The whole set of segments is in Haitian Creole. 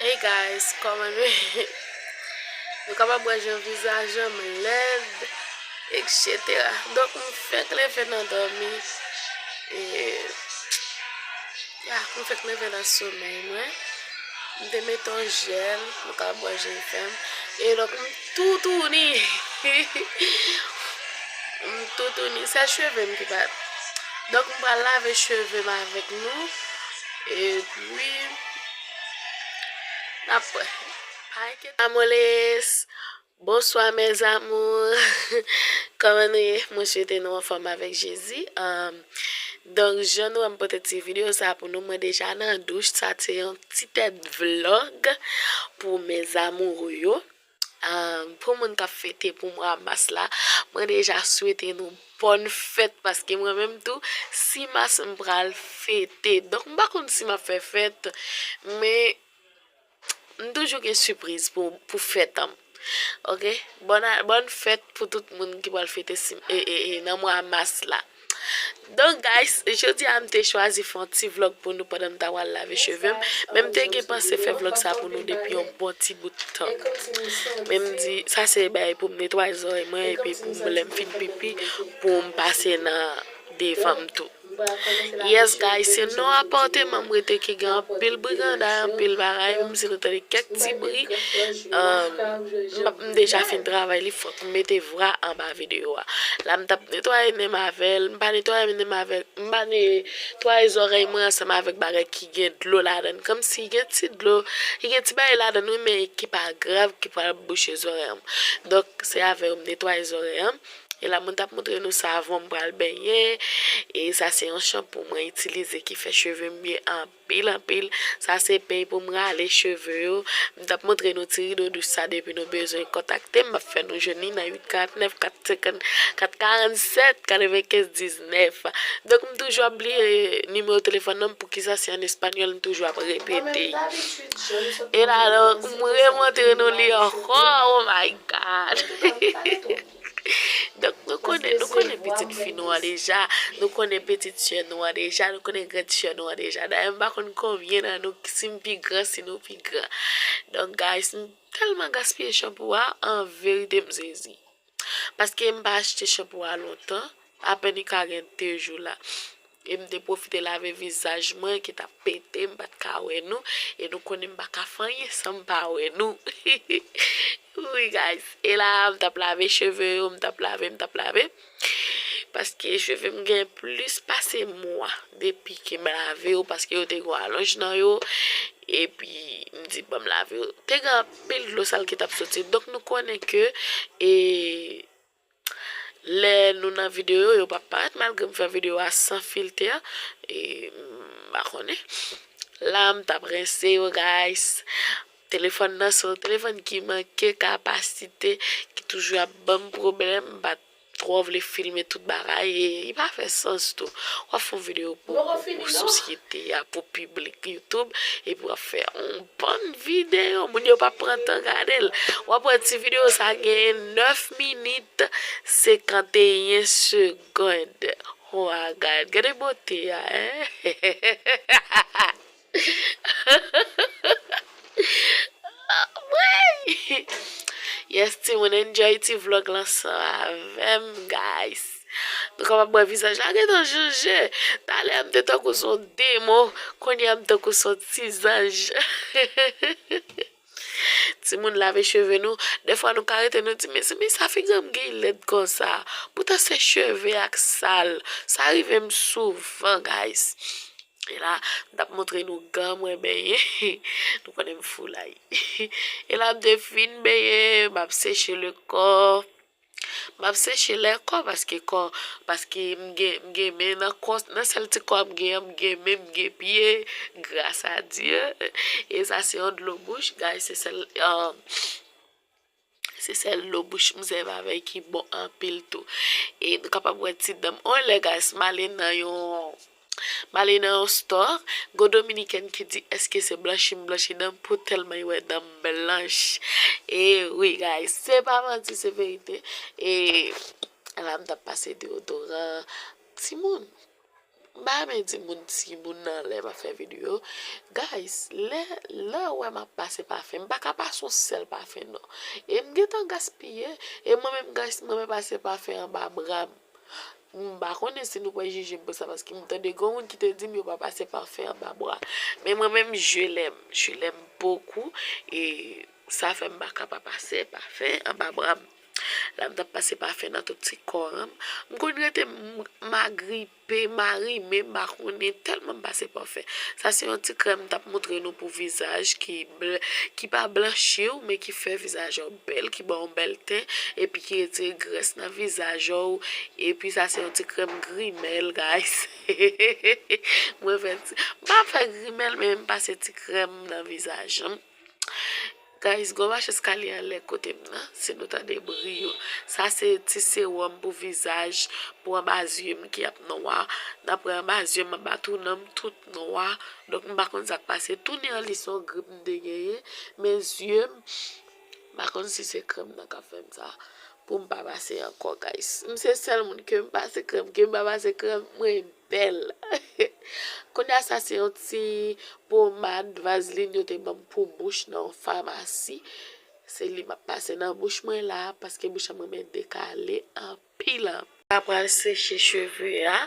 Hey guys, kòman nou ye? Nou kapab wè jan vizajèm lèd, eksetera. Donk m fèk leve nan dòmi. E, ya, m fèk leve nan somèy mwen. M te mete yon jèl, nou kapab wè jan l fè m. E donk m toutouni. M toutouni. Se cheve m ki pa. Donk m pral lave cheve m avèk nou. E. Wi nap wè. Hi ket amores Bonswa mes amours Koman nou ye mwen swete nou anfom avek jezi Donk jan nou wèm pote ti video sa pou nou mwen deja nan douch sa se yon ti tèt vlog pou mes amoureux yo Pou moun kap fete pou mwa mas la mwen deja swete nou bòn fèt paske mwen menm tou 6 mas m pral fete donk m pa konn si map fè fèt men m toujou gen sipriz pou fèt an ok bòn fèt pou tout moun ki pral fete nan mwa mas la. Donk guys jodi a m te chwazi fè yon ti vlog pou nou pandan m ta pral lave cheve m, men m te gen panse fè vlog sa pou nou depi yon bon ti bout tan. Men m di sa se bagay pou m netwaye zòrèy mwen epi pou m lè m fin pipi pou m pase nan devan m tou. Yes guys se non apàteman m rete ki gen anpil briganday anpil bagay menm si nou tande kèk ti bri m deja fin travay li fòk m mete. vra anba video a la m tap netwaye menm avèl m pa netwaye menm avèl m pa netwaye zòrèy mwen ansanm avèk bagay ki gen dlo ladann kòmsi gen ti dlo li gen ti bagay ladann wi men ki pa grav ki pral bouche zòrèy m donk se avèw m netwaye zòrèy m e la mwen tap montre nou savon m pral benyen e sa se yon chanpou mwen itilize ki fè chevem byen anpil. Pil anpil sa se peny poum rale cheve yo m tap montre nou ti rido dous sa depi nou bezwen kontaktem map fè nou jwenn li nan 849 454 47 95 19 donk m toujou ap bliye nimewo telefòn nan poukisa se an español m toujou ap repete e la donk m remontre nou li ankò oh my god. Donk nou konnen, nou konnen pitit fi nou an deja, nou konnen pitit sè nou an deja, nou konnen grand sè nou an deja. Dayè m pa konn konbyen nan nou si m pi gran, si nou pi gran. Donk guys, m tèlman gaspiye chanpou a, an verite m sezi. Paske m pa achte chanpou a lontan, apèn li ka gen 2 jou la. E m te pwofite lave vizaj mwen ki t ap pete, m pa t ka wè nou, e nou konnen m pa ka fè anyen san m pa wè nou. Wi guys, e la a m t ap lave cheve yo, m t ap lave, m t ap lave, paske cheve m gen plis pase mwa depi ke m lave yo, paske yo te gen yon alonj nan yo, epi m di banm lave yo. Te gen anpil dlo sal ki t ap soti, donk nou konnen ke e. Lè nou nan video yo pa parèt malgre m fè video a san filtè e m pa konnen la m tap rense yo guys telefòn nan sèl telefòn ki manke kapasite ki toujou ap banm pwoblèm m pa twò vle filme tout bagay e li pa fè sans tou wap fè yon video pou sosyete a pou piblik youtube epi wap fè yon Bon video moun yo pa pran tan gadel wap wè ti video sa gen 9 minit 51 segond ho agad gade bote a anmweyy yes timoun enjoy ti vlog lan san avèm guys. Nou kapab wè vizaj la gentan chanje. Talè m te tankou s on demon, kounye a m tankou s on ti zanj. Timoun lave cheve nou, dèfwa nou ka rete nou di mezanmi sa figi m gen lèd konsa. Poutan se cheve a k sal. Sa rive m souvan guys. E la m t ap montre nou gan mwen benyen. Nou konnen m foulay. E la m te fin benyen, m ap seche le kò. Map seche lè kò paske kò paske m gen m gen men nan kò nan sèl ti kò m gen an m gen men m gen pye gras a Dye e sa se yon dlo bouch guys se sèl se sèl dlo bouch m sèvi avè ki bon anpil tou e nou kapab wè ti dan m on lè guys m ale nan yon M ale nan yon store, gon dominiken ki di eske se blanchi m blanchi dan m pou telman li wè dan m blanch. E wi guys, se pa manti se verite. E la m tap pase deodoran timoun. M pa renmen di moun timoun nan lè map fè video. Guys, lè ou wè map pase pafen, m pa ka pase yon sèl pafen non. E m gentan gaspiye, e mwen menm guys m renmen pase pafen anba bra m. M pa konnen si nou pral jije m pou sa paske m tande gwo moun ki te di m yo pa pase pafen anba bwa. Men mwen menm je lèm, je lèm bokou e sa fè m pa ka pa pase pafen anba bra m. La m t ap pase pafen nan tout ti kò an, m konn rete m agripe, m arime m pa konnen tèlman m pase pafen. Sa se yon ti krèm m t ap montre nou pou vizaj ki pa blanchi w men ki fè vizaj ou. bèl ki baw bèl ten epi ki retire grès nan vizaj ow epi sa se yon ti krèm grimèl guys mwen fè ti mpa fè grimèl men m pase ti krèm nan vizaj m guys gwo mache eskalye anlè kotem nan si nou tande bri yo sa se ti sewòm pou vizaj pou anba zye m ki ap nwa dapre anba zye m anba tounenm tout nwa donk m pa konn sak pase tounen an li son grip m te genyen men zyem M pa konn si se krèm nan kap fèm sa poum pa pase ankò guys m se sèl moun kem pase krèm kem pa pase krèm mwen bèl kounya sa se yon ti pomad vazlin yo te banm pou bouch nan yon famasi se li map pase nan bouch mwen la paske bouch mwen mèt dekale anpil. Peel up. Mpa pral seche cheve a.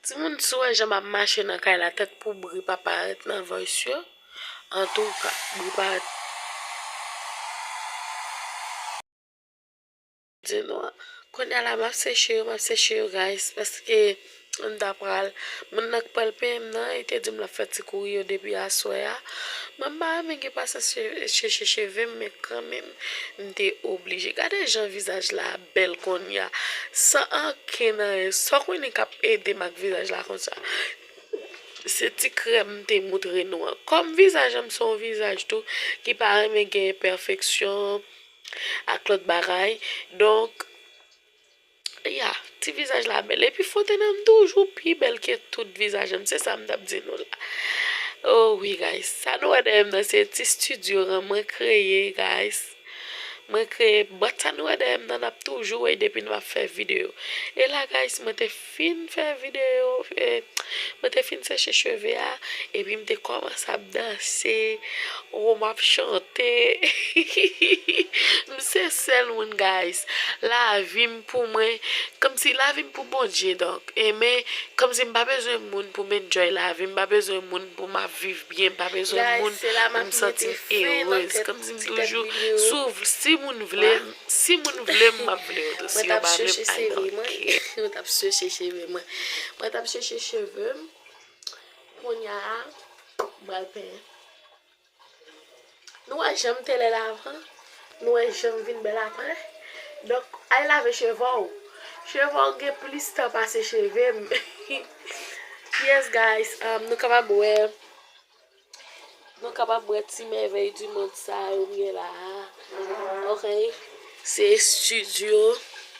Timoun si w wè jan map mache nan kay la tèt pou bri pa parèt nan voice yo antouka bri pa di nou an. Kounya la map seche yo map seche yo guys paske. M ta pral. Moun nan k pral penyenm nan e te dim lap fè ti kouri yo depi aswè a. Mwen m pa renmen gen pasyans cheche chevem men kanmenm m te oblije. Gade jan vizaj la bèl konnya san anken nan e Sòkwini kap edem ak vizaj la konsa. Se ti krèm m te moutre nou an. Kòm vizaj an m se yon vizaj tou ki pa renmen gen enpèfeksyon ak lòt bagay donk. Ya ti vizaj la bèl epi fote nan toujou pi bèl ke tout vizaj an se sa m tap di nou la oh wi guys sa nou wè dèyè m nan se ti studio an mwen kreye guys mwen kreye bòt sa nou wè dèyè m nan nap toujou wè depi nou ap fè video e la guys mwen te fin fè video mwen te fin seche cheve a epi m te kòmanse ap danse Ohh map chante m se sèl moun guys lavim pou mwen kòmsi lavim pou Bondye donk enmen kòmsi m pa bezwen moun pou m enjoy lavim m pa bezwen moun pou m ap viv byen m pa bezwen moun pou m santim erez kòmsi m toujou sou si moun vle m si moun vle m map vle yo tou si yo pa vle m I don't care. Mwen t ap chèche cheve mwen. Mwen t ap chèche cheve m. Kounya m pral penyen. Nou wè janm te lèd avan, nou wè janm vin bèl aprè, donk al lave chevè w, chevè w gen plis tan pase cheve m, yes guys nou kapab wè, nou kapab wè ti mèvèy di mond sa yo m gen la a, ok se studio.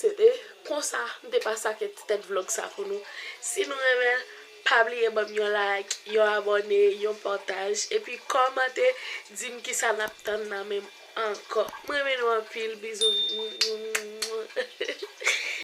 Se te konsa m te pase ake ti tèt vlog sa pou nou. Si nou renmenl pa bliye banm yon like, yon abone, yon pataj epi kòmante dim kisa nap tann nan menm ankò. M renmen nou anpil bizou.